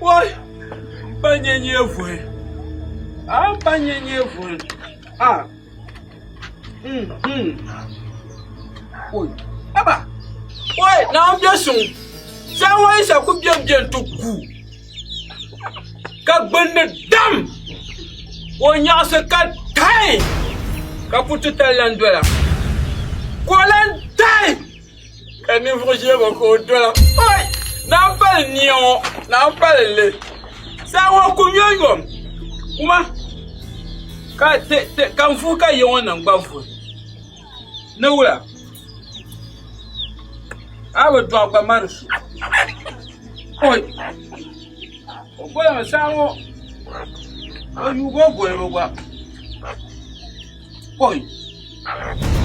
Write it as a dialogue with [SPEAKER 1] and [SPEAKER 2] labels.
[SPEAKER 1] Woi, m ba nyɛ nyee vuhi, a m ba nyɛ nyee vuhi, a mm mm, woi, haba, woi, Naawuni bɛ suŋ, saha ŋɔ Yisa ku bɛm bɛ nti gu, ka gbunni dam, ka o nyaɣisi ka taai, ka kuriti tali lan doya, ka o lan daai. ka ninvuɣu ʒiɛbo ka o dola oi naa pali nia ŋo naa pali n li saa ŋo ku yomyom kuma ka n vuhi ka yiŋo nim gba vuhi ni wula a bi doɣa gba mari su oi o golimi saa ŋo o yuugi o golibu gba oi